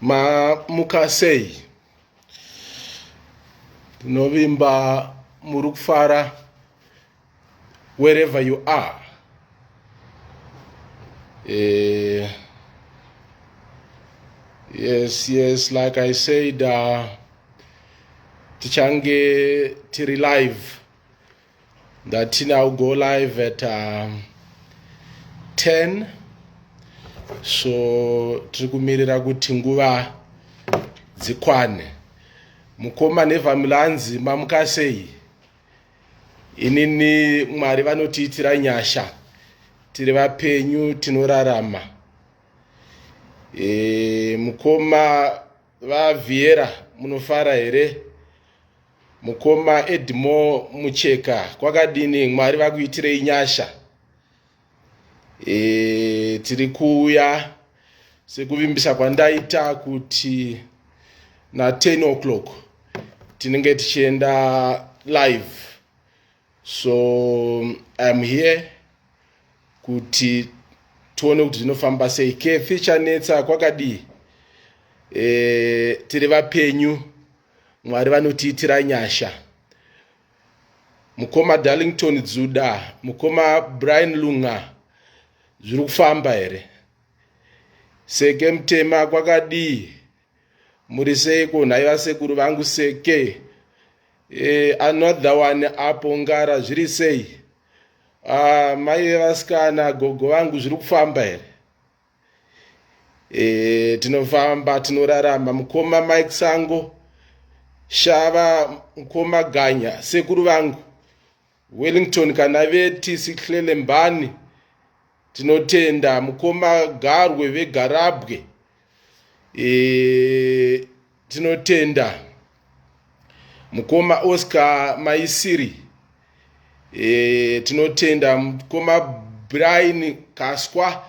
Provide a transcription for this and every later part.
mamuka sei tinovimba muri kufara wherever you are eh, yes yes like i said uh, tichange tiri live Ndatina u go live at um, 10 so tiri kumirira kuti nguva dzikwane mukoma nevamilanzi mamuka sei inini mwari vanotiitira nyasha tiri vapenyu tinorarama e, mukoma vavhiera munofara here Mukoma Edmore Mucheka kwakadini Mwari vakuitirei nyasha e, tiri kuuya sekuvimbisa kwandaita kuti na 10 o'clock tinenge tichienda live so iam here kuti tione kuti zvinofamba sei kefi chanetsa kwakadii e, tiri vapenyu Mwari vanotiitira nyasha. Mukoma Darlington Dzuda, mukoma Brian Lunga zviri kufamba here? Seke mtema kwakadii? Muri seiko nhai vasekuru vangu seke? Eh, another one apo ngara zviri sei? Ah, mai vevasikana gogo vangu zviri kufamba here? e, tinofamba tinorarama mukoma mike sango shava mukoma ganya sekuru vangu wellington kana vetisi hlelembani tinotenda mukoma garwe vegarabwe e, tinotenda mukoma oscar maisiri e, tinotenda mukoma brian kaswa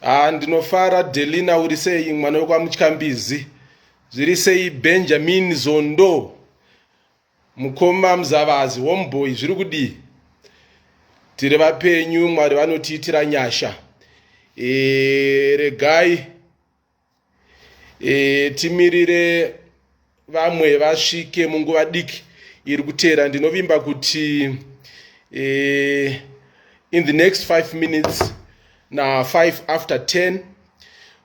ah, ndinofara delina uri sei mwana wekwamutyambizi zviri sei benjamin zondo mukoma muzavazi homeboy zviri kudii tiri vapenyu mwari vanotiitira nyasha e, regai e, timirire vamwe vasvike munguva diki iri kuteera ndinovimba kuti e, in the next five minutes na five after ten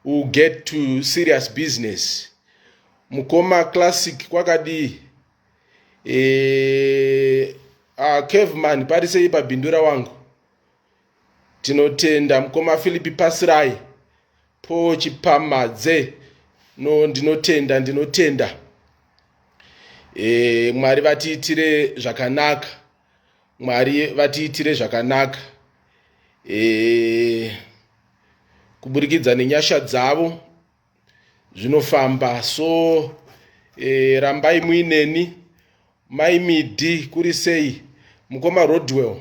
will get to serious business mukoma classic kwakadii e, uh, ah, caveman parisei pabhindura wangu Tinotenda mukoma Philip Pasirai po Chipamadze no ndinotenda ndinotenda e, Mwari vatiitire zvakanaka Mwari vatiitire zvakanaka e, kuburikidza nenyasha dzavo zvinofamba so e, rambai muineni mai midi kuri sei mukoma rodwell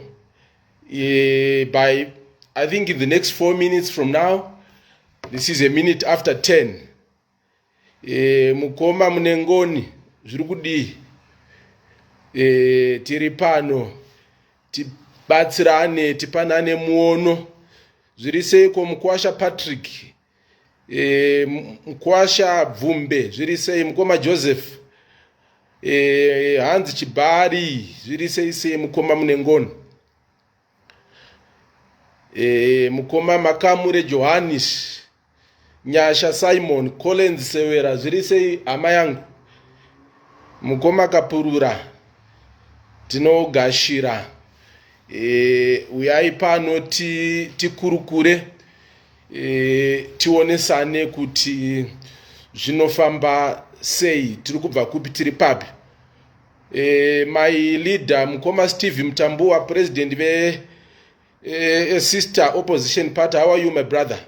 e, by i think in the next four minutes from now this is a minute after ten e, mukoma mune ngoni zviri kudii e, tiri pano tibatsirane tipanane muono zviri seiko mukwasha patrick e, mkwasha bvumbe zviri sei mukoma joseph e, hanzi chibari zviri sei sei mukoma munengono e, mukoma makamure johannis nyasha simon collins sewera zviri sei hama yangu mukoma kapurura tinogashira e, uyai pano tikurukure ti e, tionesane kuti zvinofamba sei tiri kubva kupi tiri papi e, my leader mukoma steve mtambuwa president ve e, sister opposition party how are you my brother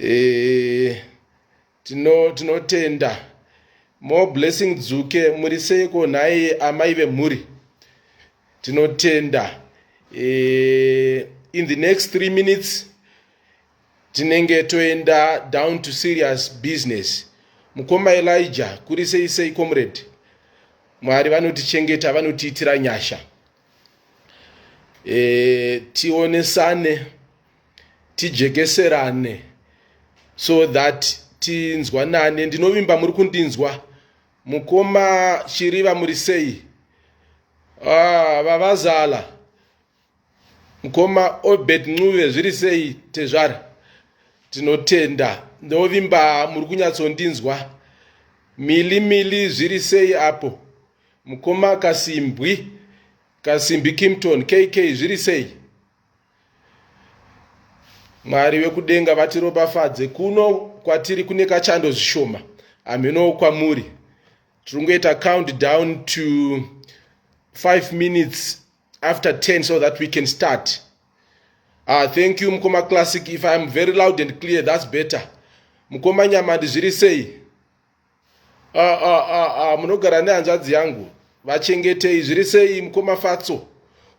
e, Tino tinotenda. More blessing Dzuke muri seiko nhai amai vemhuri. Tinotenda. Eh, in the next 3 minutes tinenge toenda down to serious business. Mukoma Elijah kuri sei sei comrade. Mwari vanotichengeta vanotiitira nyasha. e, tionesane tijekeserane so that tinzwanane ndinovimba muri kundinzwa mukoma chiriva muri sei ah, vavazala ah, mukoma obert ncuve zviri sei tezvara tinotenda ndovimba muri kunyatsondinzwa mili mili zviri sei apo Mukoma Kasimbwi, Kasimbi Kimpton, KK zviri sei? Mwari vekudenga vatiropafadze kuno kwatiri kune kachando zvishoma hamhenowo kwamuri tiri kungoita count down to 5 minutes after 10 so that we can start ah, thank you mukoma classic if iam very loud and clear thats better mukoma nyamandi zviri sei Ah, ah, ah, ah, munogara nehanzvadzi yangu vachengetei zviri sei mukoma fatso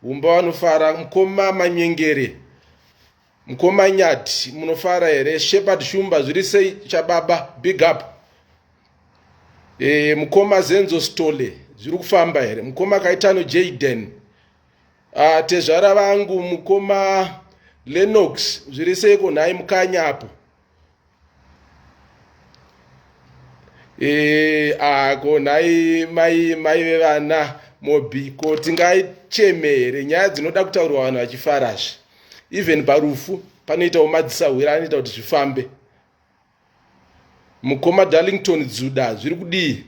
umba vanofara mukoma manyengere mukoma nyati munofara here shepard shumba zviri sei chababa big up e, mukoma zenzo stole zviri kufamba here mukoma kaitano jaden ah, tezvara vangu mukoma lenox zviri seiko nhai mukanya apo Eh, ako nhai mai mai vevana mobiko tingacheme here nyaya dzinoda kutaurwa vanhu vachifarazve even parufu panoitawo madzisahwira anoita kuti zvifambe mukoma darlington dzuda zviri kudii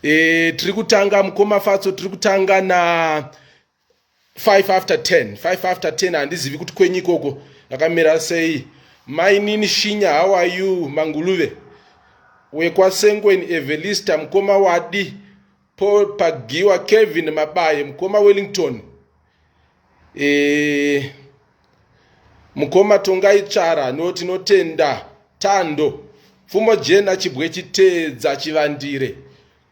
e, tiri kutanga mukoma fatso tiri kutanga na 5 after 10 5 after 10 handizivi kuti kwenyu ikoko ndakamira sei mainini shinya how are you manguluve wekwasengweni evelista mukoma wadi paul pagiwa kevin mabaye mukoma wellington e, mukoma tongai tsvara no tinotenda tando pfumo jena chibwe chiteedza chivandire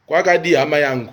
kwakadii hama yangu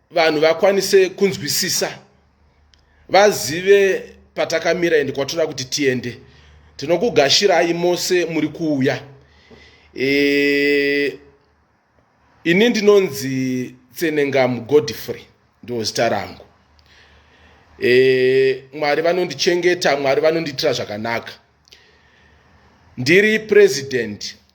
vanhu vakwanise kunzwisisa vazive patakamira ende kwatinoda kuti tiende tinokugashirai mose muri kuuya e, ini ndinonzi tsenengamu godfrey ndiwo zita rangu e, mwari vanondichengeta mwari vanondiitira zvakanaka ndiri president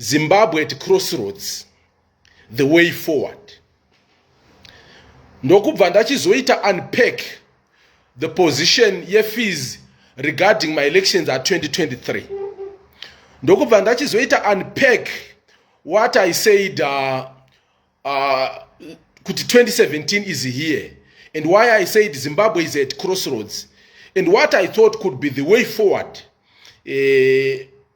Zimbabwe at crossroads the way forward ndokubva ndachizoita unpack the position yefees regarding my elections at 2023 ndokubva ndachizoita unpack what i said uh, uh, kuti 2017 is here and why i said zimbabwe is at crossroads and what i thought could be the way forward uh,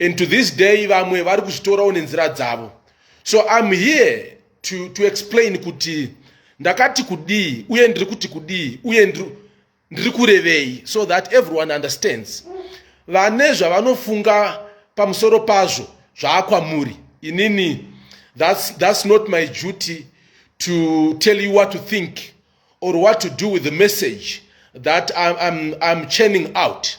and to this day vamwe vari kuzvitorawo nenzira dzavo so im here to, to explain kuti ndakati kudii uye ndiri kuti kudii uye ndiri kurevei so that everyone understands vane zvavanofunga pamusoro pazvo zvaakwamuri inini that's, that's not my duty to tell you what to think or what to do with the message that I'm, I'm, I'm churning out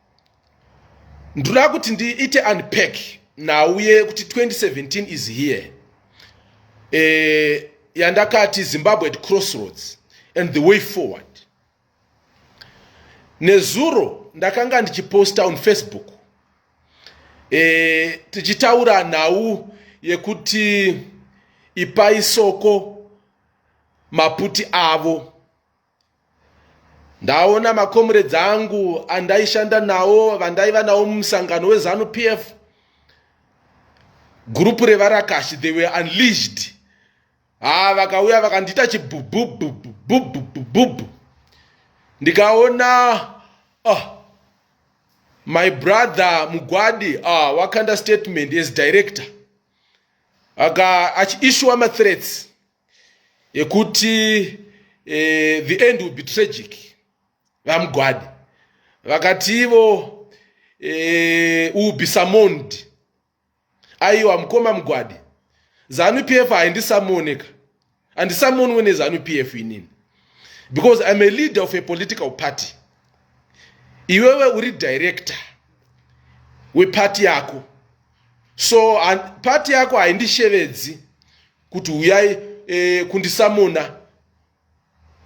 ndoda kuti ndiite unpack nhau yekuti 2017 is here eh, yandakati zimbabwe at crossroads and the way forward nezuro ndakanga ndichiposta on facebook eh, tichitaura nhau yekuti ipai soko maputi avo ndaona makomuredzi angu andaishanda nawo vandaiva nawo mumusangano wezanu p f gurupu revarakashi they were unleashed haa ah, vakauya vakandiita chibhubhubhubhubhubhubhubhubhu ndikaona oh, my brother mugwadi ah, wakanda statement as director aka achiishuwa mathreats yekuti eh, the end will be tragic vamugwadi vakati ivo eh, will be summoned aiwa mukoma mugwadi zanu p f haindisamoneka andisamonwe nezanu p f inini because iam a leader of a political party iwewe uri director wepati yako so pati yako haindishevedzi kuti huyai e, kundisamona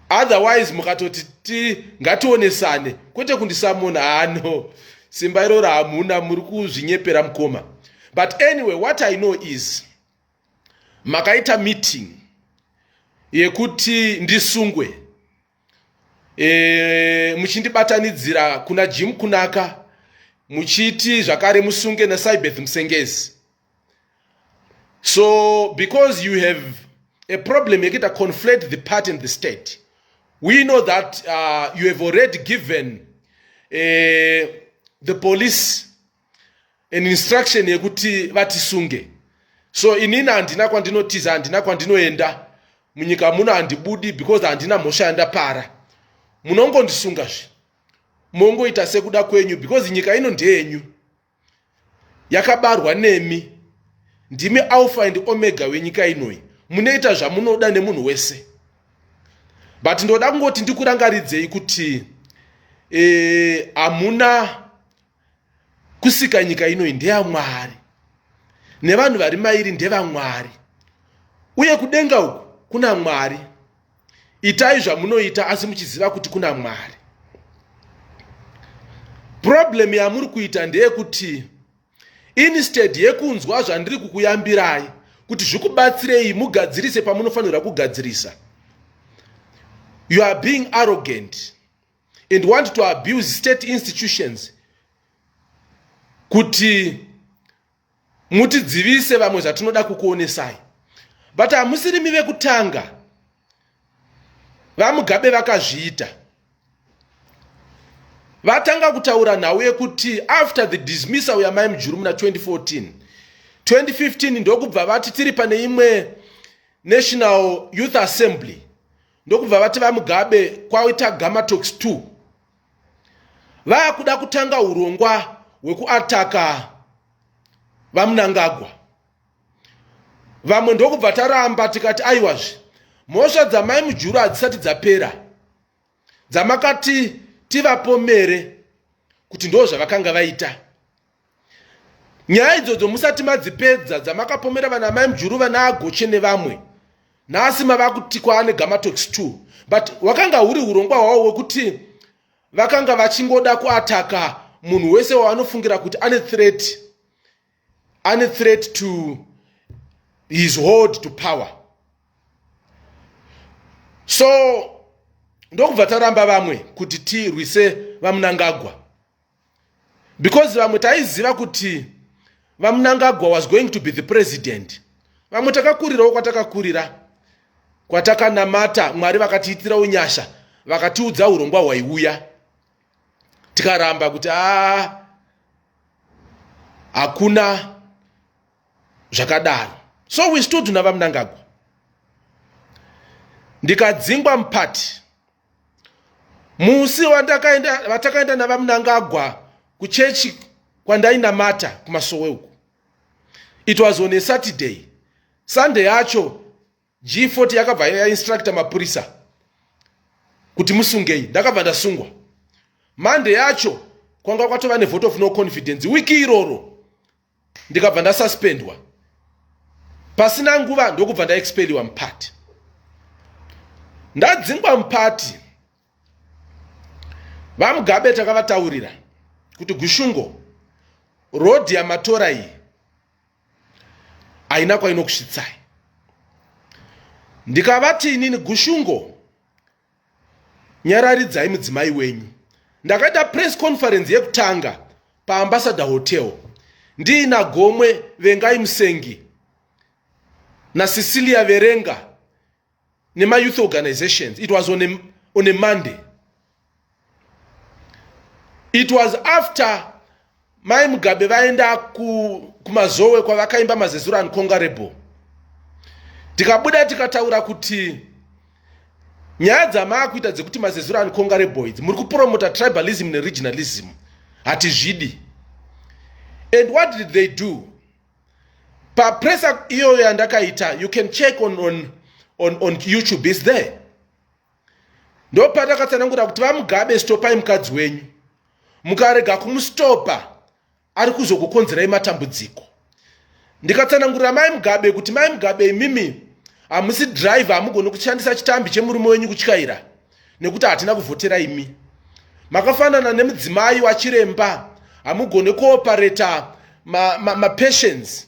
otherwise mukatoti ti ngationesane kwete kundisamona hano simba iroro hamuna muri kuzvinyepera mukoma but anyway what i know is makaita meeting yekuti ndisungwe e, muchindibatanidzira kuna jim kunaka muchiti zvakare musunge nasaibeth musengezi so because you have a problem yekuita conflate the party and the state we know that uh, you have already given uh, the police an instruction yekuti vatisunge so inini handina kwandinotiza handina kwandinoenda munyika muno handibudi because handina mhosva yandapara munongondisunga zve mongoita sekuda kwenyu because nyika ino ndeyenyu yakabarwa nemi ndimi alpha and omega wenyika inoyi munoita zvamunoda nemunhu wese but ndoda kungoti ndikurangaridzei kuti eh, hamuna e, kusika nyika inoyi ndeyamwari nevanhu vari mairi ndevamwari uye kudenga uku kuna mwari itai zvamunoita asi muchiziva kuti kuna mwari problem yamuri kuita ndeyekuti instead yekunzwa zvandiri kukuyambirai kuti zvikubatsirei mugadzirise pamunofanirwa kugadzirisa you are being arrogant and want to abuse state institutions kuti mutidzivise vamwe zvatinoda kukuonesai but hamusirimi vekutanga vamugabe vakazviita vatanga kutaura nhau yekuti after the dismissal yamai mujuru muna 2014 2015 ndokubva vati tiri pane imwe national youth assembly ndokubva vati vamugabe kwaita gamatox 2 vakuda kutanga urongwa hwekuataka vamunangagwa vamwe ndokubva taramba tikati aiwazve mhosva dzamai mujuru hadzisati dzapera dzamakati tivapomere kuti ndo zvavakanga vaita nyaya idzodzo musati madzipedza dzamakapomera vana mai mjuru vana agoche nevamwe nhasi mava kuti kwaane gamatox t but wakanga huri urongwa hwavo wekuti vakanga vachingoda kuataka munhu wese waanofungira kuti ane threat ane threat to his hold to power so ndokubva taramba vamwe kuti tirwise vamunangagwa because vamwe taiziva kuti vamunangagwa was going to be the president vamwe takakurirawo kwatakakurira kwatakanamata mwari vakatiitirawo nyasha vakatiudza urongwa hwaiuya tikaramba kuti a hakuna zvakadaro so we stood navamunangagwa ndikadzingwa mupati musi vatakaenda navamunangagwa kuchechi kwandainamata kumasowe uku it was on a saturday sunday yacho g40 yakabva yainstructa mapurisa kuti musungei ndakabva ndasungwa monday yacho kwanga kwatova nevote of no confidence wiki iroro ndikabva ndasuspendwa pasina nguva ndokubva ndaexpeliwa mupati ndadzingwa mupati vamugabe takavataurira kuti gushungo rodhi yamatora iyi haina kwainokusvitsai ndikavati inini gushungo nyararidzai mudzimai wenyu ndakaita press conference yekutanga paambassador hotel ndiina gomwe vengai musengi nacecilia verenga nemayouth organizations it was on a, on a monday it was after mai mugabe vaenda kumazowe kwavakaimba mazezura and congarable tikabuda tikataura kuti nyaya dzamaakuita dzekuti mazezura and congaraboids muri kupromota tribalism neregionalism hatizvidi and what did they do papresa iyoyo yandakaita you can check on, on, on, on youtube is there ndopatakatsanangura kuti vamugabe stopai mukadzi wenyu mukarega kumustopa ari kuzokukonzerai matambudziko ndikatsanangurira mai mugabe kuti mai mugabe imimi hamusi driver hamugoni kushandisa chitambi chemurume wenyu kutyaira nekuti hatina kuvhotera imi makafanana nemudzimai wachiremba hamugone kuopareta mapatients ma, ma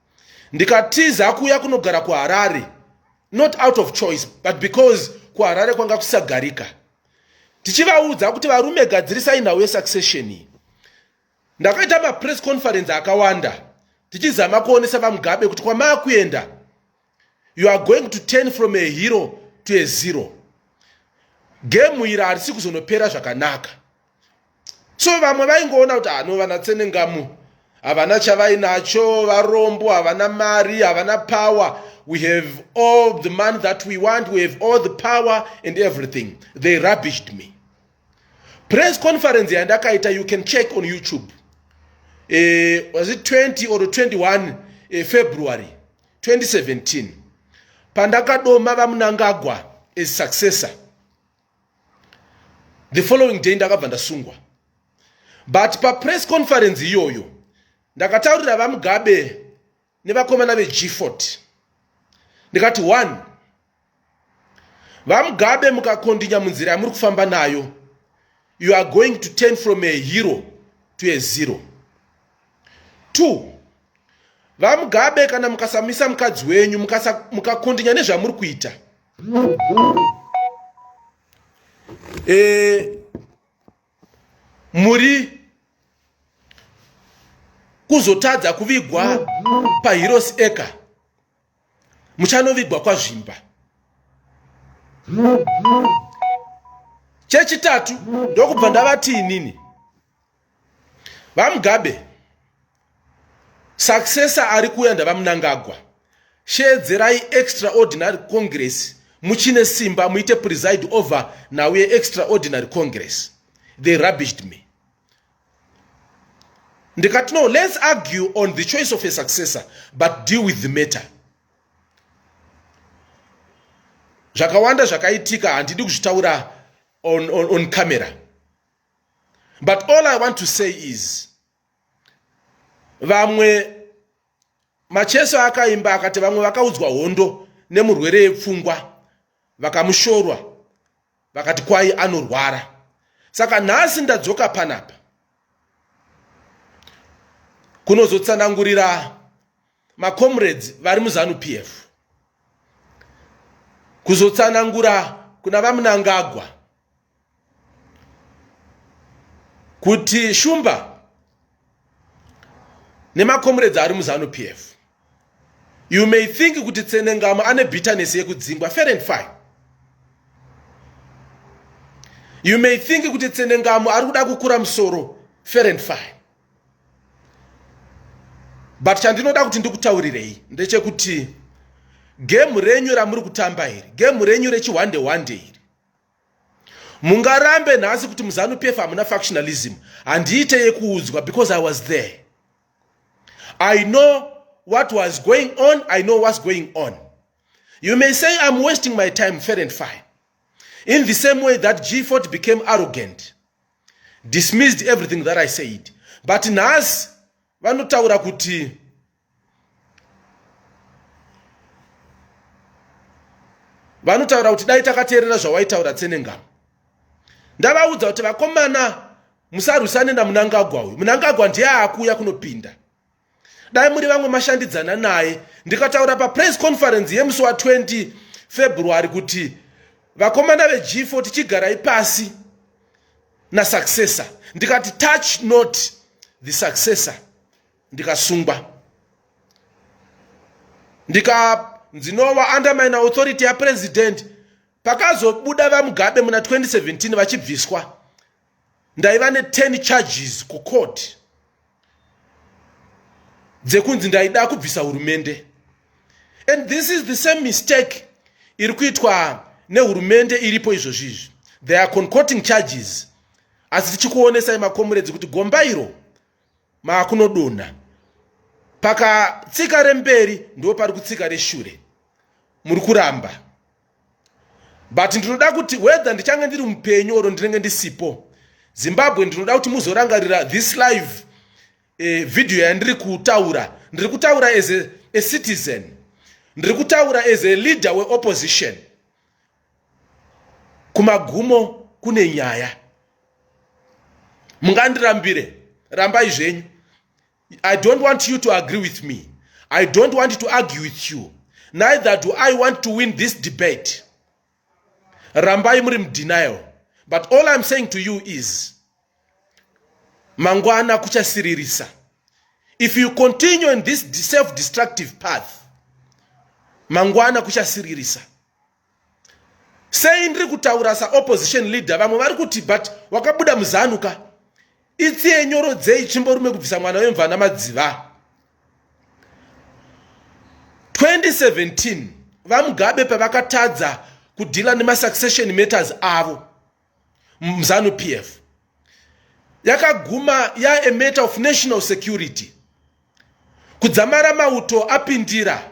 ndikatiza kuuya kunogara kuharare not out of choice but because kuharare kwanga kusagarika tichivaudza kuti varume gadzirisai nhau yesuccession iyi ndakaita mapress conference akawanda tichizama kuonesa vamugabe kuti kwamaakuenda you are going to turn from a hero to a zero gemu iri harisi kuzonopera zvakanaka so vamwe vaingoona kuti hano ah, vana tsenengamu havana chavainacho varombo havana mari havana power we have all the money that we want we have all the power and everything they rubbished me press conference yandakaita you can check on youtube uh, was it 20 or 21 uh, eh, february 2017 pandakadoma vamunangagwa as successor the following day ndakabva ndasungwa but papress conference iyoyo ndakataurira vamugabe nevakomana vegfort ndikati one vamugabe mukakondinya munzira yamuri kufamba nayo you are going to turn from a hero to a zero two vamugabe kana mukasamisa mukadzi wenyu mukakondinya muka nezvamuri kuita e, muri kuzotadza kuvigwa pahirosi eka muchanovigwa kwazvimba chechitatu ndokubva ndavati inini vamugabe saksesa ari kuuya ndavamunangagwa sheedzerai extraordinary congress muchine simba muite preside over now yeextraordinary congress they rubbished me ndikati no let's argue on the choice of a successor but deal with the matter zvakawanda zvakaitika handidi kuzvitaura on, on, on camera but all i want to say is vamwe macheso akaimba akati vamwe vakaudzwa hondo nemurwere yepfungwa vakamushorwa vakati kwayi anorwara saka nhasi ndadzoka panapa kunozotsanangurira macomrades vari muzanu p f kuzotsanangura kuna vamunangagwa kuti shumba nemakomuredzi ari muzanu p f you may think kuti tsenengama ane bitterness yekudzingwa fair and fine you may think kuti tsenengamo ari kuda kukura musoro fair and fine but chandinoda kuti ndikutaurirei ndechekuti gemu renyu ramuri kutamba iri gemu renyu rechihwande hwande iri mungarambe nhasi kuti muzanu pf hamuna factionalism handiite yekuudzwa because i was there i know what was going on i know what's going on you may say i'm wasting my time fair and fine in the same way that gfort became arrogant dismissed everything that i said but nhasi vanotaura kuti vanotaura kuti dai takateerera zvawaitaura tsenengama ndavaudza kuti vakomana musarwisane namunangagwa uyu munangagwa ndiye akuuya kunopinda dai muri vamwe mashandidzana naye ndikataura papress conference yemusi wa 20 february kuti vakomana veg4 tichigarai pasi nasuccessor ndikati touch not the successor ndikasungwa ndika ndinova under mine authority yapresident pakazobuda vamugabe muna 2017 vachibviswa ndaiva ne10 charges kucourt dzekunzi ndaida kubvisa hurumende and this is the same mistake iri kuitwa nehurumende iripo izvozvi izvi they are concoting charges asi tichikuonesai makomuredzi kuti gomba iro maakunodonha pakatsika remberi ndo pari kutsika reshure muri kuramba but ndinoda kuti whether ndichange ndiri mupenyu oro ndinenge ndisipo zimbabwe ndinoda kuti muzorangarira this live eh, video yandiri kutaura ndiri kutaura as a, a citizen ndiri kutaura as a leader weopposition kumagumo kune nyaya mungandirambire rambai zvenyu i don't want you to agree with me i don't want to argue with you neither do i want to win this debate rambai muri mudenial but all i'm saying to you is mangwana kuchasiririsa if you continue in this self-destructive path mangwana kuchasiririsa sei ndiri kutaura saopposition leader vamwe vari kuti but wakabuda muzanu ka itsiye nyoro dzei chimborume kubvisa mwana wemvana madziva 2017 vamugabe pavakatadza kudhila nemasuccession matters avo mzanu p f yakaguma ya a matter of national security kudzamara mauto apindira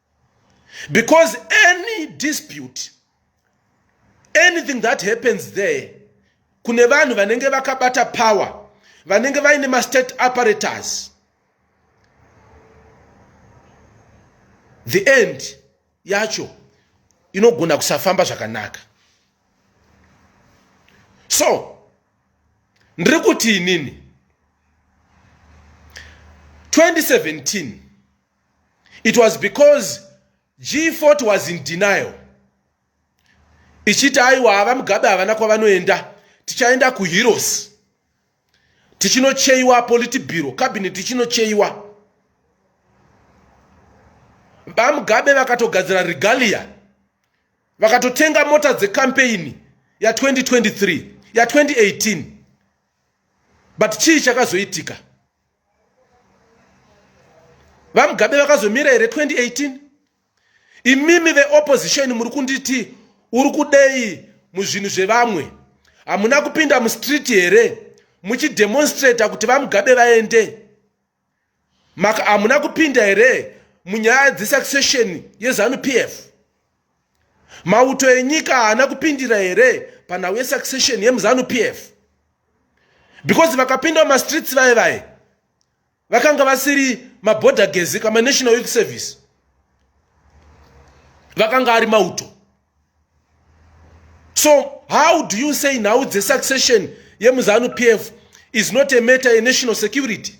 because any dispute anything that happens there kune vanhu vanenge vakabata power vanenge vaine mastate apparatus the end yacho inogona kusafamba zvakanaka so ndiri kuti inini 2017 it was because g40 was in denial ichiti aiwa hava mugabe havana kwavanoenda tichaenda kuheroes tichinocheiwa politibiro cabinet tichinocheiwa vamugabe vakatogadzira regalia vakatotenga mota dzekampeini ya2023 ya2018 but chii chakazoitika vamugabe vakazomira here 2018 imimi veopposition muri kunditi uri kudei muzvinhu zvevamwe hamuna kupinda mustreet here muchidemonstrata kuti vamugabe vaende maka hamuna kupinda here munyaya dzesuccession yezanu p f mauto enyika haana kupindira here panhau yesuccession yemuzanu p f because vakapinda mumastreets vaye vaye vakanga vasiri maborder gezi kama national youth service vakanga ari mauto so how do you say nhau dzesuccession yemuzanu p f is not a matter yenational security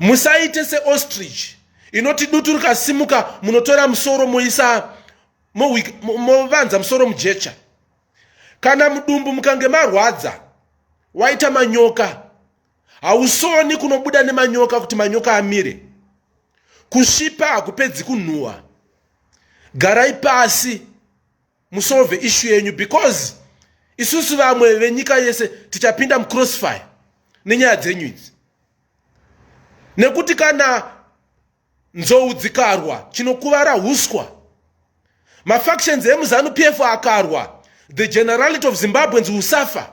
musaite seostrich inoti dutu rikasimuka munotora musoro moisa movanza musoro mujecha kana mudumbu mukange marwadza waita manyoka hausoni kunobuda nemanyoka kuti manyoka amire kusvipa hakupedzi kunhuhwa garai pasi musolve issue yenyu because isusu vamwe venyika yese tichapinda mucrossfire nenyaya dzenyu idzi nekuti kana nzou dzikarwa chinokuvara uswa mafactions emuzanu pf akarwa the generality of zimbabweans will suffer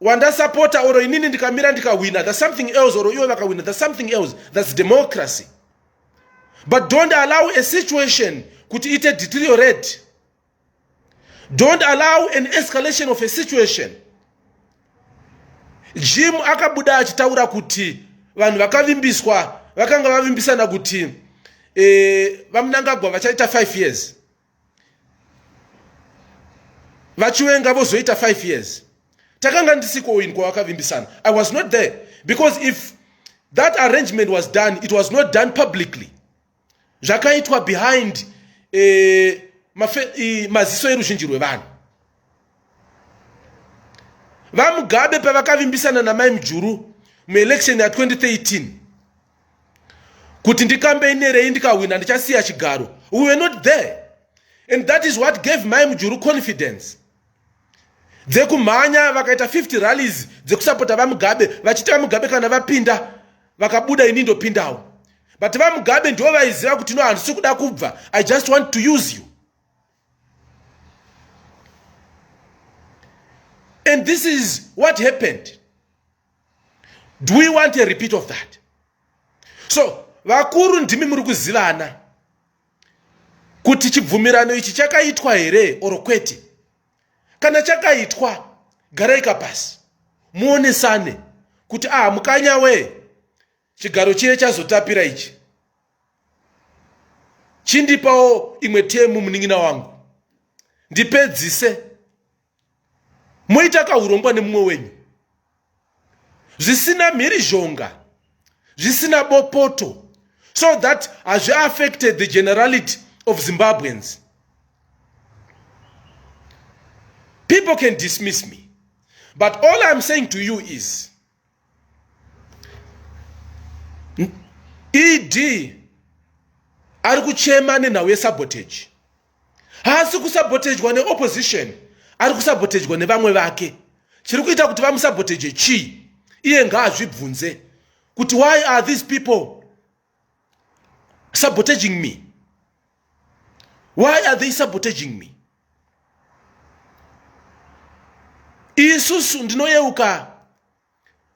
wandasapota or inini ndikamira ndikahwina thats something else or iwe vakahwina thats something else thats democracy but don't allow a situation kuti ite deteriorate don't allow an escalation of a situation jim akabuda achitaura kuti vanhu vakavimbiswa vakanga vavimbisana kuti eh, vamunangagwa vachaita 5 years vachiwenga vozoita 5 years takanga ndisiko in kwavakavimbisana i was not there because if that arrangement was done it was not done publicly zvakaitwa behind eh, maziso eruzhinji rwevanhu vamugabe pavakavimbisana namai mujuru muelection ya 2013 kuti ndikambeinerei ndikahwina ndichasiya chigaro we were not there and that is what gave mai mujuru confidence dzekumhanya vakaita 50 rallies dzekusapota vamugabe vachiti vamugabe kana vapinda vakabuda ini ndopindawo but vamugabe ndivo vaiziva kuti no handisi kuda kubva i just want to use you and this is what happened do we want a repeat of that so vakuru ndimi muri kuzivana kuti chibvumirano ichi chakaitwa here or kwete kana chakaitwa garaika pasi muonesane kuti aha mukanya wee chigaro chiye chazotapira ichi chindipawo imwe temu munin'ina wangu ndipedzise moita kahurombwa nemumwe wenyu zvisina mhirizhonga zvisina bopoto so that hazviaffected the generality of zimbabweans people can dismiss me but all iam saying to you is ed ari kuchema nenhau yesabotage haasi kusabotejwa neopposition ari kusabotejwa nevamwe vake chiri kuita kuti vamusaboteje chii iye ngaazvibvunze kuti why are these people sabotaging me why are they sabotaging me isusu ndinoyeuka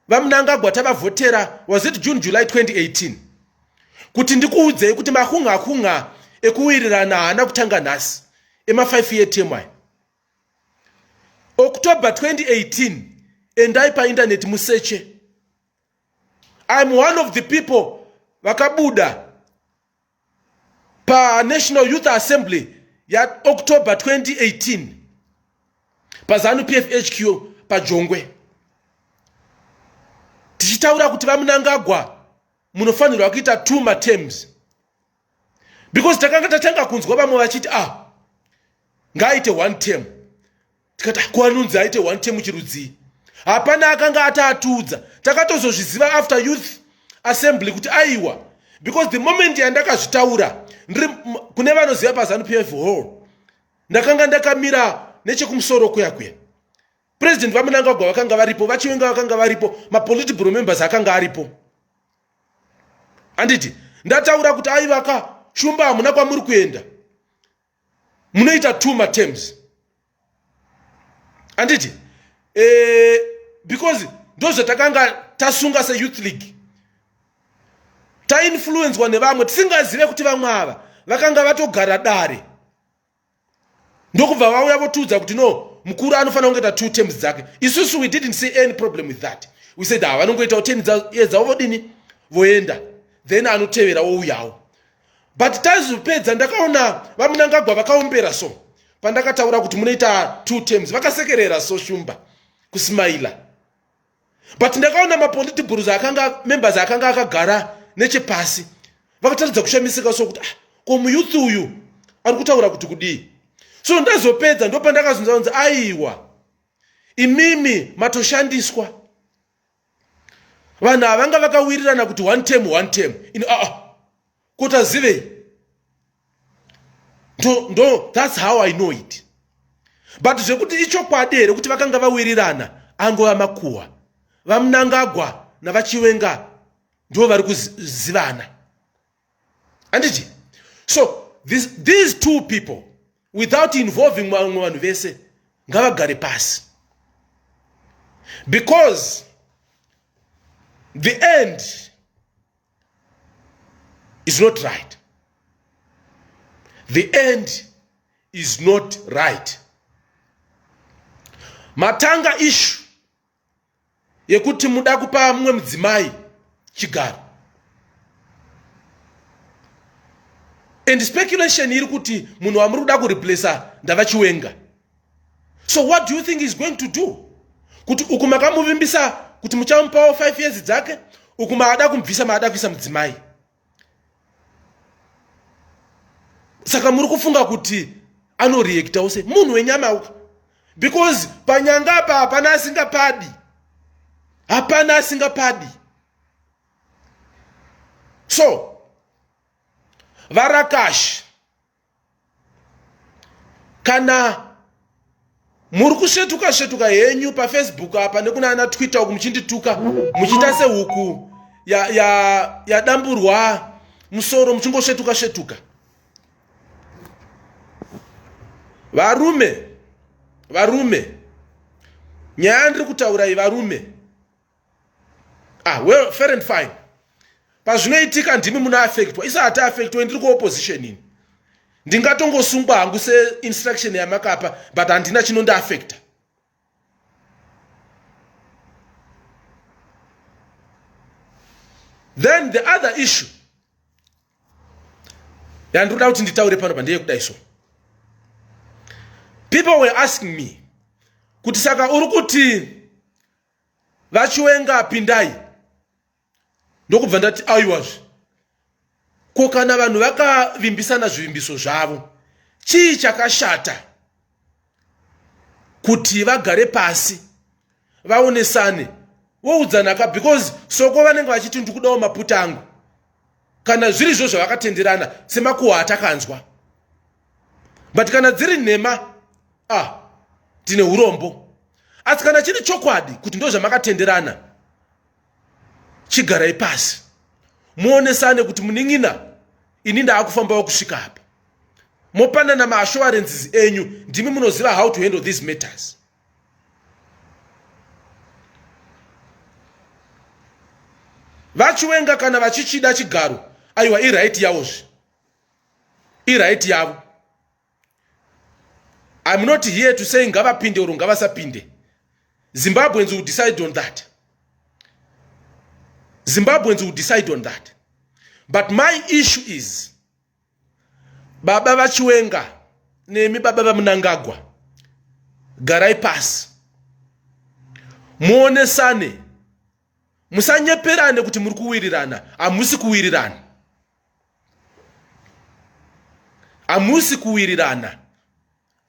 vamunangagwa tavavhotera was it june july 2018 kuti ndikuudzei kuti makunga kunga ekuwirirana haana kutanga nhasi ema5 year temy october 2018 endai paindaneti museche I'm one of the people vakabuda paNational Youth Assembly yaOctober 2018 paZanu PF HQ paJongwe tichitaura kuti vaMunangagwa munofanirwa kuita two matems because takanga tatanga kunzwa vamwe vachiti ah ngaaite one term tikati ah, kuanunzi aite one term chirudzii hapana akanga ataatudza takatozozviziva after youth assembly kuti aiwa because the moment yandakazvitaura ndiri kune vanoziva pazanu pf hall ndakanga ndakamira nechekumusoro kuya kuya president vamunangagwa vakanga varipo vachiwenga vakanga varipo mapolitibro members akanga aripo handiti ndataura kuti aivaka shumba hamuna kwamuri kuenda munoita two matems handiti e, eh, because ndozvatakanga tasunga seyouth league tainfluencwa nevamwe tisingazive kuti vamwe ava vakanga vatogara dare ndokubva vauya votiudza kuti no mukuru anofanira kungoita two terms dzake isusu we didn't see any problem with that we said ha ah, vanongoitawo ten years dzavo vodini voenda then anotevera wouyawo but taizopedza ndakaona vamunangagwa vakaombera so pandakataura kuti munoita two terms vakasekerera so shumba kusmaila but ndakaona mapoliti gurus akanga members akanga akagara nechepasi vakataridza kushamisika sokuti ah, ko muyuth uyu ari kutaura kuti kudii so ndazopedza ndopandakazunza kunzi aiwa imimi matoshandiswa vanhu havanga vakawirirana kuti one term one term in aa ah, ah. kuti azivei ndo ndo thats how i know it but zvekuti ichokwadi here kuti vakanga vawirirana angova makuhwa vamunangagwa navachiwenga ndo vari kuzivana anditi so this, these two people without involving vamwe vanhu vese ngavagare pasi because the end is not right the end is not right matanga ishu yekuti muda kupa mumwe mudzimai chigaro and speculation iri kuti munhu wamuri kuda kureplacer ndava chiwenga so what do you think is going to do kuti uku makamuvimbisa kuti muchamupawo 5 years dzake uku maada kumubvisa maada kuisa mudzimai saka muri kufunga kuti anoreactawo se munhu wenyama uka because panyanga apa hapana asingapadi hapana asingapadi so varakashi kana muri kusvetuka svetuka henyu pafacebook apa nekuna ana twitter uku muchindituka muchiita sehuku yadamburwa ya, ya musoro muchingosvetuka svetuka varume varume nyaya ndiri kutaura iyi varume ah well fair and fine pazvinoitika ndimi muna affectwa isa hati affectwa ndiri kuopposition ini ndingatongosungwa hangu seinstruction yamakapa but handina chinondiaffecta then the other issue yandinoda kuti nditaure pano pa ndeyekudai so people were asking me kuti saka uri kuti vachiwenga pindai ndokubva ndati aiwazve ko kana vanhu vakavimbisana zvivimbiso zvavo chii chakashata kuti vagare pasi vaonesane woudzana ka because soko vanenge vachiti ndikudawo maputa angu kana zviri zvo zvavakatenderana semakuhwa atakanzwa but kana dziri nhema ah tine urombo asi kana chiri chokwadi kuti ndo zvamakatenderana chigarai pasi muonesane kuti munin'ina ini ndaakufambawo kusvika apa mopanana maassurances enyu ndimi munoziva how to handle these matters vachiwenga kana vachichida chigaro aiwa iright yavozve iright yavo im not here to say ngavapinde oro ngavasapinde zimbabweans will decide on that zimbabweans will decide on that but my issue is baba vachiwenga nemi baba vamunangagwa garai pasi muonesane musanyeperane kuti muri kuwirirana hamusi kuwirirana hamusi kuwirirana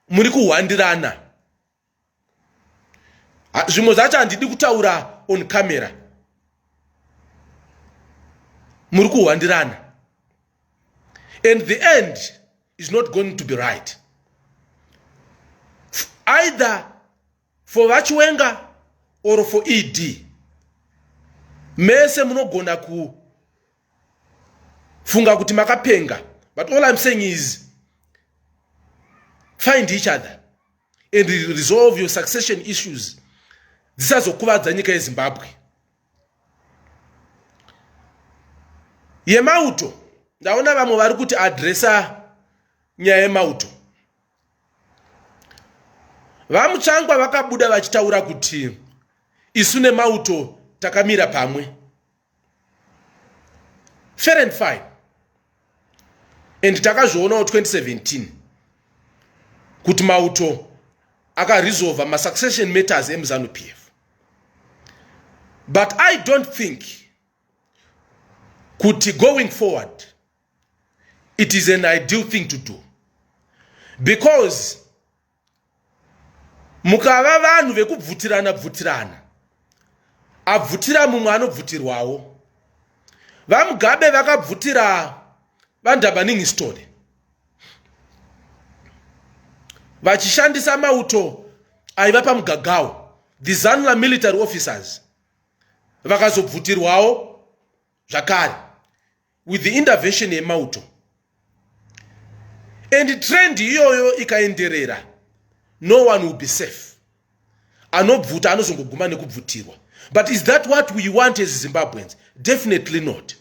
muri kuhwandirana zvimwe zvacho handidi kutaura on camera muri kuhwandirana and the end is not going to be right either for vachiwenga or for ed mese munogona kufunga kuti makapenga but all im saying is find each other and resolve your succession issues dzisazokuvadza nyika yezimbabwe yemauto ndaona vamwe vari kuti adresa nyaya yemauto vamutsvangwa vakabuda vachitaura kuti isu nemauto takamira pamwe fair and fine and takazvionawo 2017 kuti mauto akaresolva masuccession matters emuzanu p f but i don't think kuti going forward it is an ideal thing to do because mukava vanhu vekubvutirana bvutirana abvutira mumwe anobvutirwawo vamugabe vakabvutira vandhabaningistone vachishandisa mauto aiva pamugagawo the zanla military officers vakazobvutirwawo zvakare with the intervention yemauto and trend iyoyo ikaenderera no one will be safe anobvuta anozongoguma nekubvutirwa but is that what we want as zimbabweans definitely not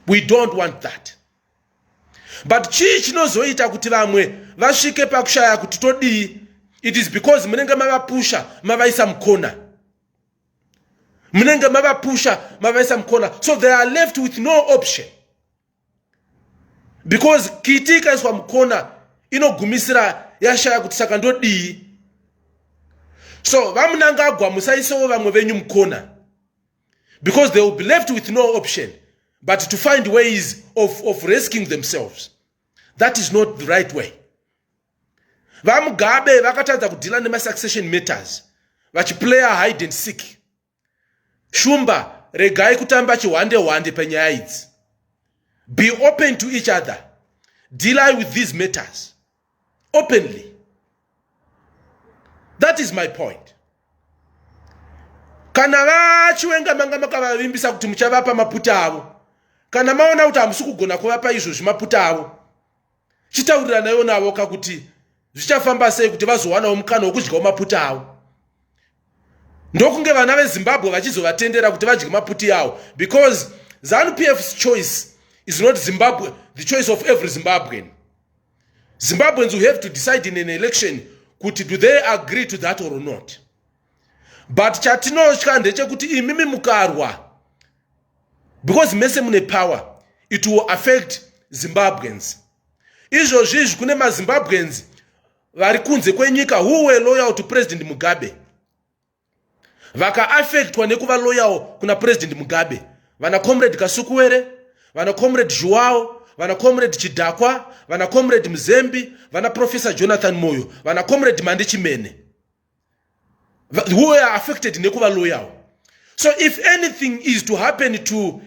we don't want that but chii chinozoita kuti vamwe vasvike pakushaya kuti todii it is because munenge mavapusha mavaisa mukona munenge mavapusha mavaisa mukona so they are left with no option because kiti ikaiswa mukona inogumisira yashaya kuti saka ndodii so vamunangagwa musaisewo vamwe venyu mukona because they will be left with no option but to find ways of, of rescuing themselves that is not the right way vamugabe vakatadza kudhila nemasuccession matters vachiplayer hide and seek shumba regai kutamba chihwande hwande penyaya idzi be open to each other deal with these matters openly that is my point kana vachiwenga manga makavavimbisa kuti muchavapa maputa avo kana maona kuti hamusi kugona kuvapa izvozvi maputa avo chitauriranaiwo navo ka kuti zvichafamba sei kuti vazowanawo mukana wokudyawo maputa avo ndokunge vana vezimbabwe vachizovatendera kuti vadye maputi avo because zanu p f's choice is not zimbabwe the choice of every zimbabwean zimbabweans will have to decide in an election kuti do they agree to that or not but chatinotya ndechekuti imimi mukarwa because mese mune power it will affect zimbabweans izvozvi izvi kune mazimbabweans vari kunze kwenyika who were loyal to president mugabe vakaaffectwa nekuva loyal kuna president mugabe vana comrade kasukuwere vana comrade zhuwao vana comrade chidhakwa vana comrade muzembi vana professor jonathan moyo vana comrade mandi chimene who were affected nekuva loyal so if anything is to happen to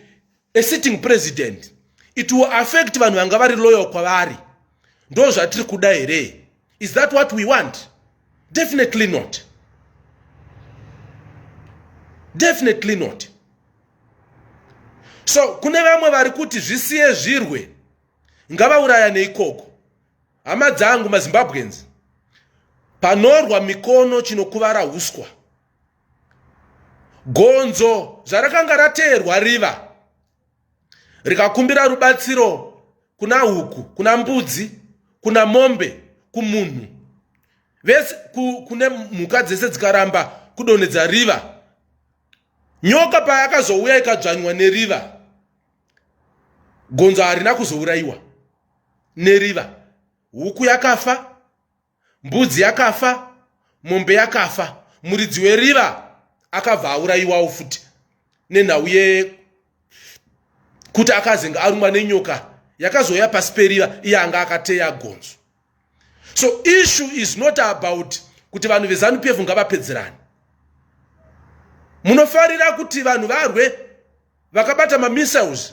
a sitting president it will affect vanhu vanga vari loyal kwavari ndo zvatiri kuda here is that what we want definitely not definitely not so kune vamwe vari kuti zvisiye zvirwe ngavaurayane ikoko Hama dzangu maZimbabweans, panorwa mikono chinokuvara huswa. Gonzo zvarakanga rateerwa riva rikakumbira rubatsiro kuna huku, kuna mbudzi, kuna mombe, kumunhu vese ku, kune mhuka dzese dzikaramba kudonhedza riva. Nyoka payakazouya ikadzvanywa neriva, gonzo harina kuzourayiwa. neriva huku yakafa mbudzi yakafa mombe yakafa muridzi weriva akabva aurayiwawo futi nenhau ye kuti akazenge arumwa nenyoka yakazouya pasi periva iye anga akateya gonzo so issue is not about kuti vanhu vezanu pf ngavapedzerani munofarira kuti vanhu varwe vakabata mamissiles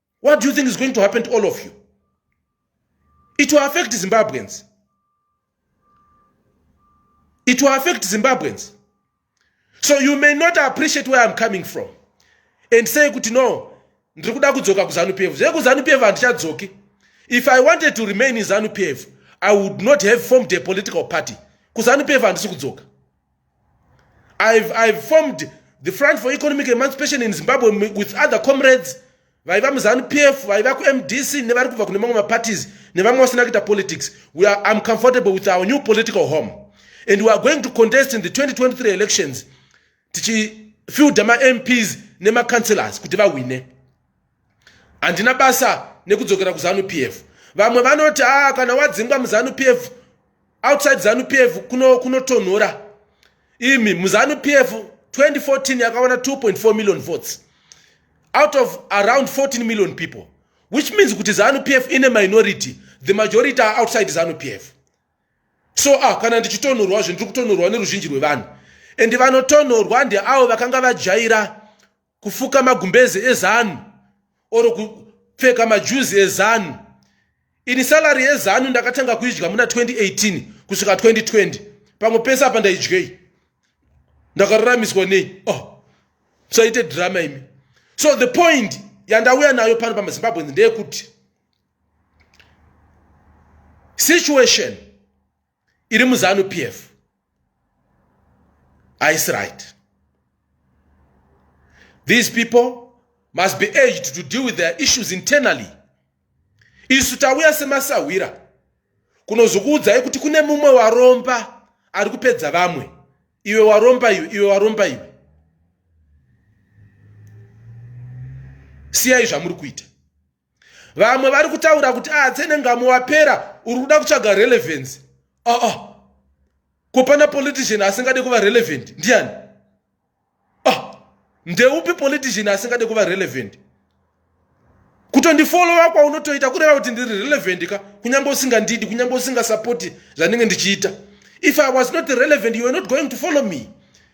what do you think is going to happen to all of you it will affect zimbabweans it will affect zimbabweans so you may not appreciate where i'm coming from and say kuti no ndiri kuda kudzoka kuzanu pf zvekuzanu pf handichadzoki if i wanted to remain in zanu pf i would not have formed a political party kuzanu pf handisi kudzoka I've, I've formed the front for economic emancipation in zimbabwe with other comrades vaiva muzanu p f vaiva kumd c nevari kubva kune mamwe maparties nevamwe vasina kuita politics am comfortable with our new political home and weare going to contest in the 2023 elections tichifielda mamps nemacouncelors kuti vahwine handina basa nekudzokera kuzanu p f vamwe vanoti a ah, kana wadzingwa muzanu p f outside zanu p f kunotonhora kuno imi muzanu p f 2014 yakawana 2.4 million votes out of around 14 million people which means kuti zanu p f ine minority the majority are outside zanu p f so ah kana ndichitonhorwa zve ndiri kutonhorwa neruzhinji rwevanhu and vanotonhorwa ndeavo vakanga vajaira kufuka magumbeze ezanu or kupfeka majuzi ezanu ini salary yezanu ndakatanga kuidya muna 2018 kusvika 2020 pamwe pese apa ndaidyei ndakaruramiswa nei oh musaite drama imi so the point yandauya nayo pano pamazimbabweans ndeyekuti situation iri muzanu p f haisi right these people must be urged to deal with their issues internally isu tauya semasahwira kunozokuudzai kuti kune mumwe waromba ari kupedza vamwe iwe waromba iwe iwe waromba iwe siyai zvamuri kuita vamwe vari kutaura kuti ah tsene ngamo wapera uri kuda kutsvaga relevance aa ah, ah. ko pana politician asingade kuva relevant ndiani ah ndeupi politician asingade kuva relevant kutondifolowa kwaunotoita kureva kuti ndiri relevant ka kunyange usingandidi kunyange usingasapoti zvandinge ndichiita if i was not relevant you were not going to follow me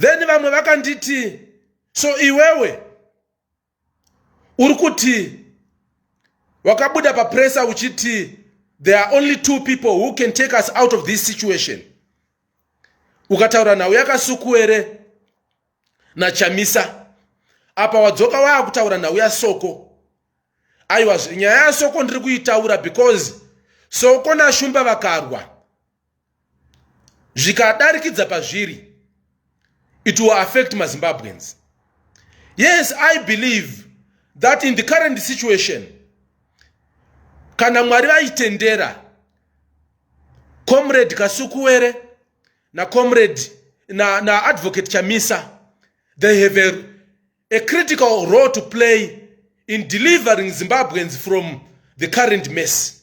then vamwe vakanditi so iwewe uri kuti wakabuda papresa uchiti there are only two people who can take us out of this situation ukataura nhau yakasukuere nachamisa apa wadzoka waakutaura nhau yasoko aiwa nyaya yasoko ndiri kuitaura because soko nashumba vakarwa zvikadarikidza pazviri it will affect mazimbabweans yes i believe that in the current situation kana mwari vaitendera comrade kasukuwere nacomrade naadvocate na chamisa they have a, a critical role to play in delivering zimbabweans from the current mess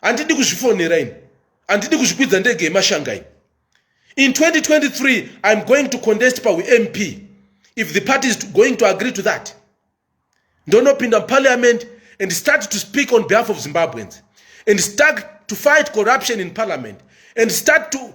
handidi kuzvifonera ini handidi kuzvikwidza ndege yemashanga ini in 2023 iam going to contest paump if the party is going to agree to that ndonopinda muparliament and start to speak on behalf of zimbabweans and start to fight corruption in parliament and start to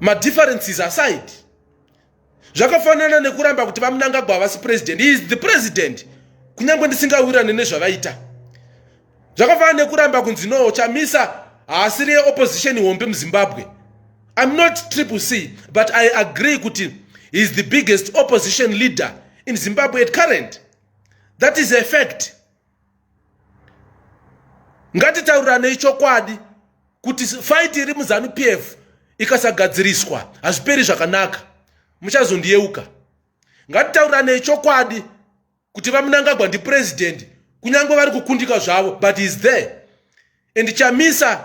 madifferences aside zvakafanana nekuramba kuti vamunangagwa havasi president he is the president kunyange ndisingawirane nezvavaita zvakafanana nekuramba kunzi no chamisa haasiri yeopposition hombe muzimbabwe iam not triple c but i agree kuti he is the biggest opposition leader in zimbabwe at current that is a fact ngatitaurirane ichokwadi kuti fight iri muzanu pf ikasagadziriswa hazviperi zvakanaka muchazondiyeuka ngatitaurirane ichokwadi kuti vamunangagwa ndipurezidendi kunyange vari kukundika zvavo but is there and chamisa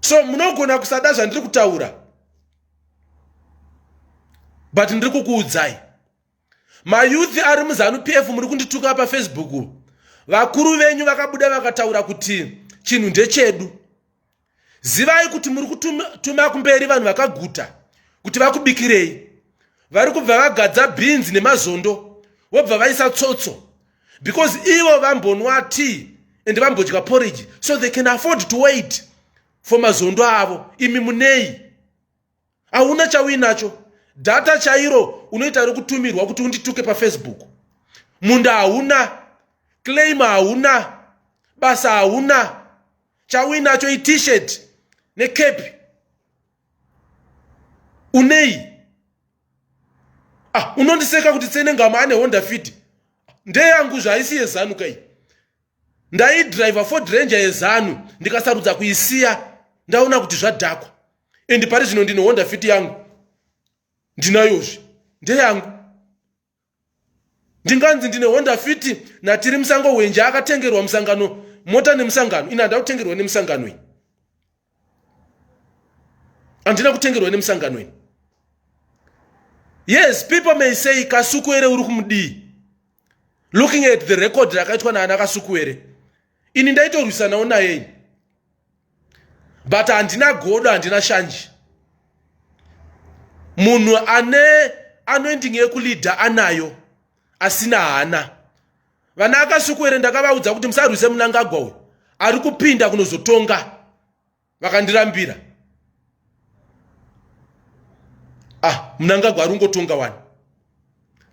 so munogona kusada zvandiri kutaura but ndiri kukuudzai mayouth ari muzanu p f muri kundituka pafacebook vakuru venyu vakabuda vakataura kuti chinhu ndechedu zivai kuti muri kutuma kumberi vanhu vakaguta kuti vakubikirei vari kubva vagadza bhinzi nemazondo vobva vaisa tsotso because ivo vambonwa tea and vambodya porridge so they can afford to wait for mazondo avo imi munei hauna chauinacho data chairo unoita rekutumirwa kuti undituke pafacebook munda hauna claim hauna basa hauna chauinacho itishet necape unei ah, unondiseka kuti tsene ngama ane honda fit ndeyangu zvaisi yezanu kai ndaidriver ford ranger yezanu ndikasarudza kuisiya ndaona kuti zvadhakwa and pari zvino ndine honda fit yangu ndinayozvi ndeyangu ndinganzi ndine honda fiti natiri musango hwenje akatengerwa musangano mota nemusangano ini handina kutengerwa nemusangano ini handina kutengerwa nemusangano ini yes people may say kasukuere uri kumudii looking at the record rakaitwa naana kasukuere ini ndaitorwisanawo naye ini but handina godo handina shanji munhu ane anoending yekulidha anayo asina hana vana akasukuere ndakavaudza kuti musarwise munangagwa uyu ari kupinda kunozotonga vakandirambira ah munangagwa ari ungotonga wani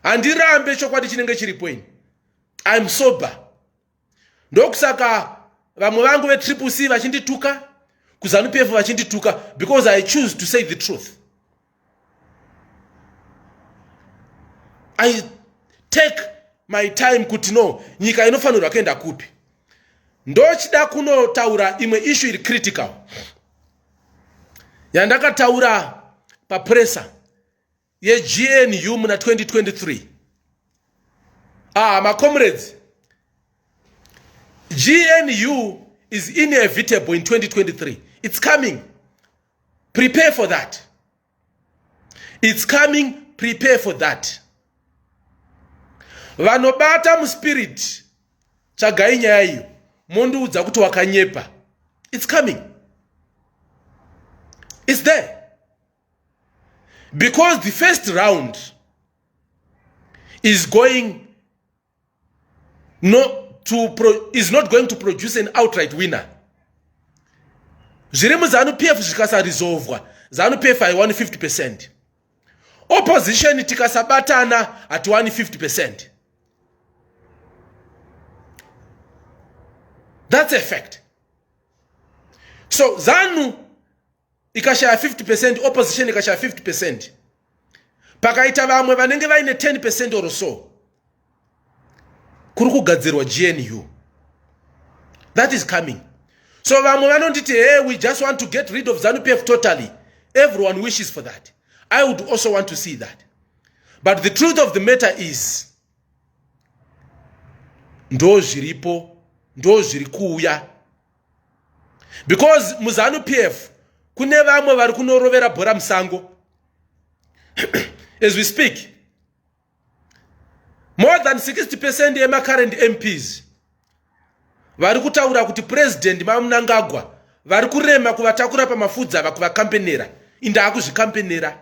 handirambe chokwadi chinenge chiripo ini im sober ndokusaka vamwe vangu vetriple c vachindituka kuzanupf vachindituka because i choose to say the truth i take my time kuti no nyika inofanirwa kuenda kupi ndochida kunotaura imwe ishu iri critical yandakataura papresa yegnu muna 2023 ah macomrades gnu is inevitable in 2023 it's coming prepare for that it's coming prepare for that vanobata muspirit tsvagai nyaya iyo mondiudza kuti wakanyepa it's coming it's there because the first round is going no to pro, is not going to produce an outright winner zviri muzanu pf zvikasarizovwa zanu pf haiwani 50 percent opposition tikasabatana hatiwani 50 percent that's a fact so zanu ikashaya 50 percent opposition ikashaya 50 percent pakaita vamwe vanenge vaine 10 percent or so kuri kugadzirwa gnu that is coming so vamwe vanonditi hey we just want to get rid of zanupf totally everyone wishes for that i would also want to see that but the truth of the matter is ndo zviripo ndo zviri kuuya because muzanu p f kune vamwe vari kunorovera bhora musango as we speak more than 60 percent yemacurrent mps vari kutaura kuti purezidendi mamunangagwa vari kurema kuvatakura pamafudzi ava kuvakampenera indaakuzvikampenera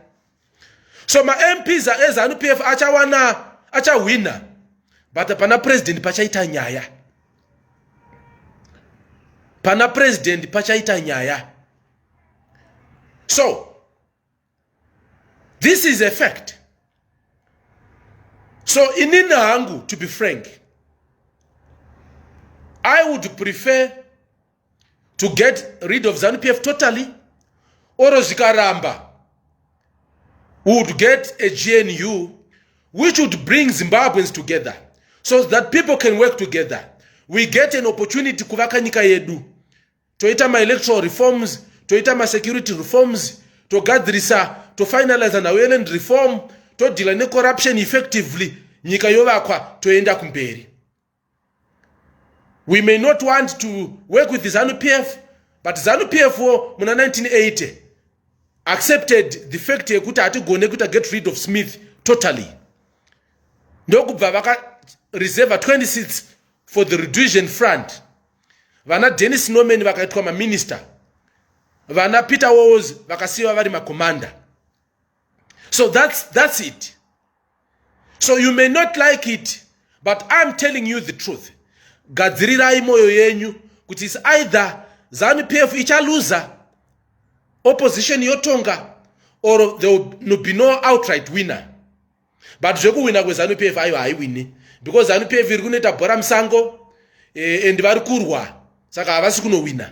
so mamps ezanu p f achawana achahwina but pana president pachaita nyaya pana president pachaita nyaya so this is a fact so inini hangu to be frank i would prefer to get rid of zanu pf totally oro zvikaramba we would get a gnu which would bring zimbabweans together so that people can work together we get an opportunity kuvaka nyika yedu toita maelectoral reforms toita masecurity reforms togadzirisa tofinaliza naweland reform todhila necorruption effectively nyika yovakwa toenda kumberi we may not want to work with zanu p f but zanu p f wo muna 1980 accepted the fact yekuti hatigone kuita get rid of smith totally ndokubva vakareserva 20 seats for the redusion front vana dennis norman vakaitwa maminister vana peter walls vakasiyiwa vari macommander so that's, that's it so you may not like it but iam telling you the truth gadzirirai mwoyo yenyu kuti is either zanu p f ichaluza opposition yotonga or there will be no outright winner but zvekuwina kwezanu p f ayo haiwini because zanu p f iri kunoita bhora musango eh, and vari kurwa saka havasi kunowina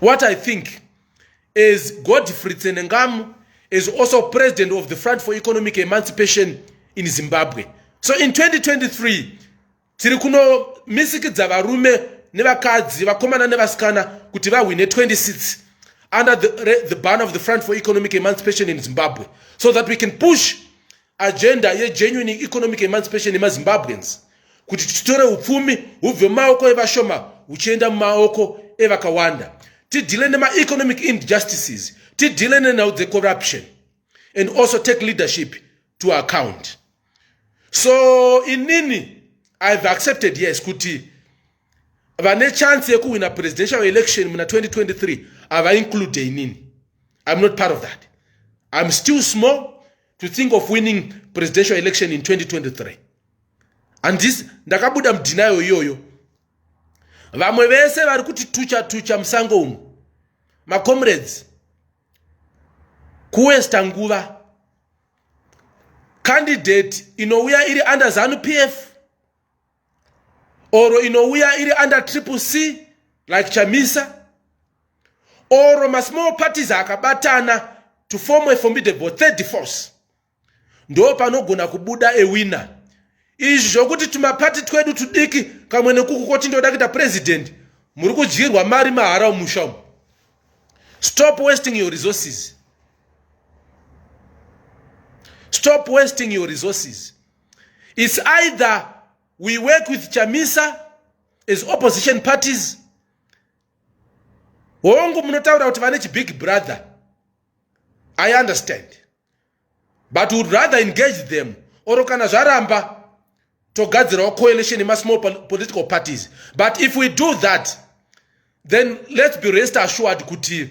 what i think as godfrey tsenengamu is also president of the front for economic emancipation in zimbabwe so in 2023 tiri kunomisikidza varume nevakadzi vakomana nevasikana kuti vahwine 26 under the, the ban of the front for economic emancipation in zimbabwe so that we can push agenda yegenuine economic emancipation yemazimbabweans kuti titore upfumi hubve mumaoko evashoma huchienda mumaoko evakawanda tidhile nemaeconomic injustices tidhile nenhau dzecorruption and also take leadership to account so inini ihave accepted yes kuti vane chance yekuhwina presidential election muna 2023 havainclude inini iam not part of that iam still small to think of winning presidential election in 2023 andis ndakabuda mudhinayo iyoyo vamwe vese vari kuti tucha tucha musango umu macomrades kuwesta nguva candidate inouya iri under zanu p f or inouya iri under triple c like chamisa or masmall parties akabatana to form a formidable third force ndo panogona kubuda ewina izvi zvokuti tumapati twedu tudiki kamwe nekuku koti ndoda kuita president muri kudyirwa mari mahara umusha umu stop wasting your resources stop wasting your resources It's either we work with Chamisa as opposition parties. Hongu munotaura kuti vane big brother. I understand. But would rather engage them or kana zvaramba togadzirawo coalition in small political parties. But if we do that then let's be rest assured kuti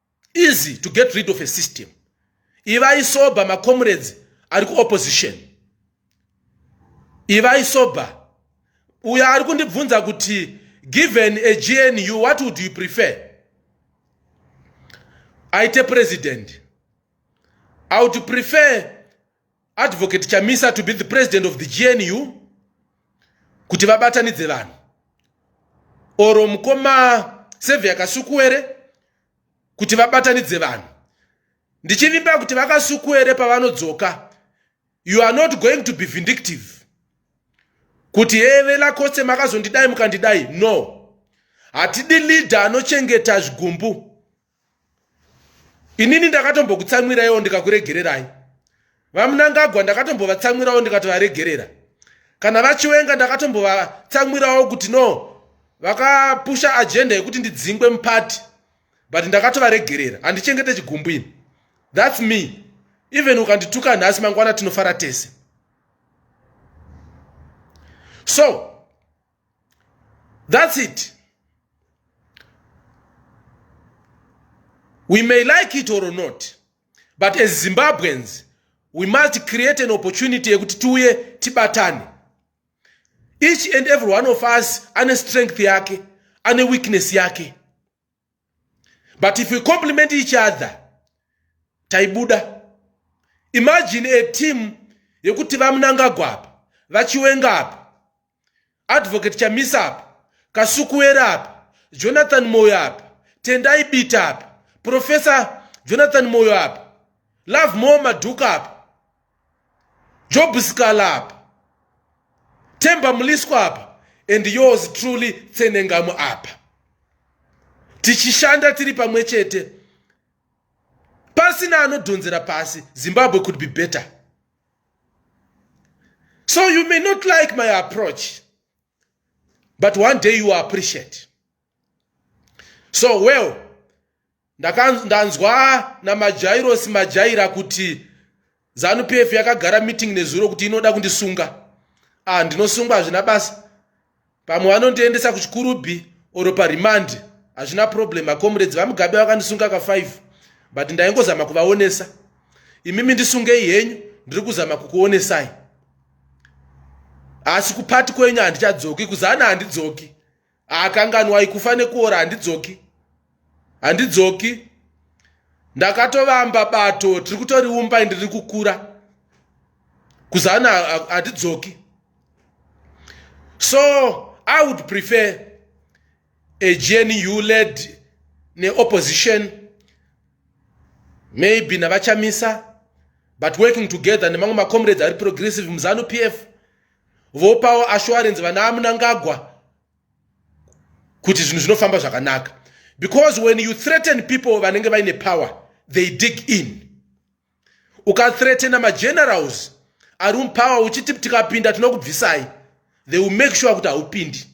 easy to get rid of a system ivai sober macomrades ari kuopposition ivai sober uyo ari kundibvunza kuti given a gnu what would you prefer aite president i would prefer Advocate Chamisa to be the president of the GNU kuti vabatanidze vanhu oro mukoma Sevia Kasukuwere kuti vabatanidze vanhu ndichivimba kuti vakasukuwere pavanodzoka you are not going to be vindictive kuti heve lakose makazondidai mukandidai no hatidi leader anochengeta zvigumbu inini ndakatombokutsamwiraiwo ndikakuregererai vamunangagwa ndakatombovatsamwirawo ndikatovaregerera kana vachiwenga ndakatombovatsamwirawo kuti no vakapusha agenda yekuti ndidzingwe mupati but ndakatovaregerera handichengete chigumbu ini thats me even ukandituka nhasi mangwana tinofara tese so That's it. We may like it or not, but as Zimbabweans, we must create an opportunity yekuti tiuye tibatane. Each and every one of us ane strength yake, ane weakness yake. but if we compliment each other taibuda imagine a team yekuti vamunangagwa apa vachiwenga apa advocate chamisa apa kasukuwera apa jonathan moyo apa tendai bita apa professor jonathan moyo apa love more madhuka apa job scala apa temba muliswa apa and yours truly tsenengamu apa tichishanda tiri pamwe chete pasina anodhonzera pasi zimbabwe could be better so you may not like my approach but one day you appreciate so well ndanzwa namajairosi majaira kuti zanu p f yakagara meeting nezuro kuti inoda kundisunga ah ndinosungwa hazvina basa pamwe vanondiendesa kuchikurubhi oro parimandi hazvina problem makomuredzi vamugabe vakandisunga ka5 but ndaingozama kuvaonesa imimi ndisungei henyu ndiri kuzama kukuonesai asi kupati kwenyu handichadzoki kuzana handidzoki akanganwai kufa nekuora handidzoki handidzoki ndakatovamba bato tiri kutoriumba ndiri kukura kuzana handidzoki so i would prefer a gnu led neopposition maybe navachamisa but working together nemamwe macomrades ari progressive muzanu p f vopawo assurance vana amunangagwa kuti zvinhu zvinofamba zvakanaka because when you threaten people vanenge vaine power they dig in ukathreatena magenerals ari mupower uchiti tikapinda tinokubvisai they will make sure kuti haupindi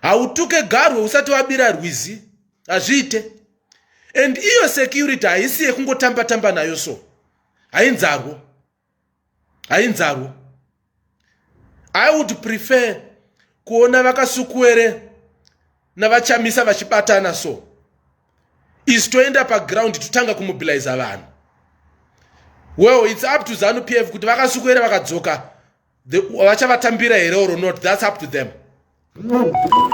hautuke garwe usati wabira rwizi hazviite and iyo security haisi yekungotamba tamba nayo so hainzarwo hainzarwo i would prefer kuona vakasukuwere navachamisa vachibatana so isu toenda paground totanga kumobiliza vanhu well its up to zanu p f kuti vakasukuwere vakadzoka vachavatambira here or not that's up to them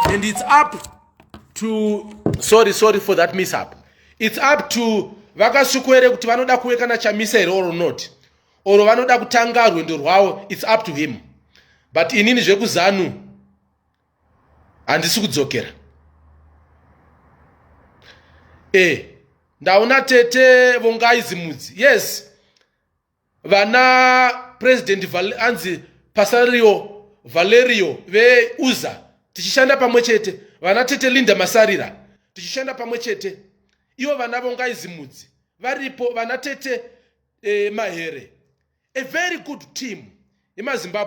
and it's up to sorry sorry for that mishap it's up to vakasviko here kuti vanoda kuwekana chamisa here or not or vanoda kutanga rwendo rwavo it's up to him but inini zvekuzanu handisi kudzokera e ndaona tete vongai zimudzi yes vana president anzi pasario valerio veuza tichishanda pamwe chete vana tete linda masarira tichishanda pamwe chete ivo vana vongaizimudzi varipo vana tete eh, mahere a very good team yemazimbabwe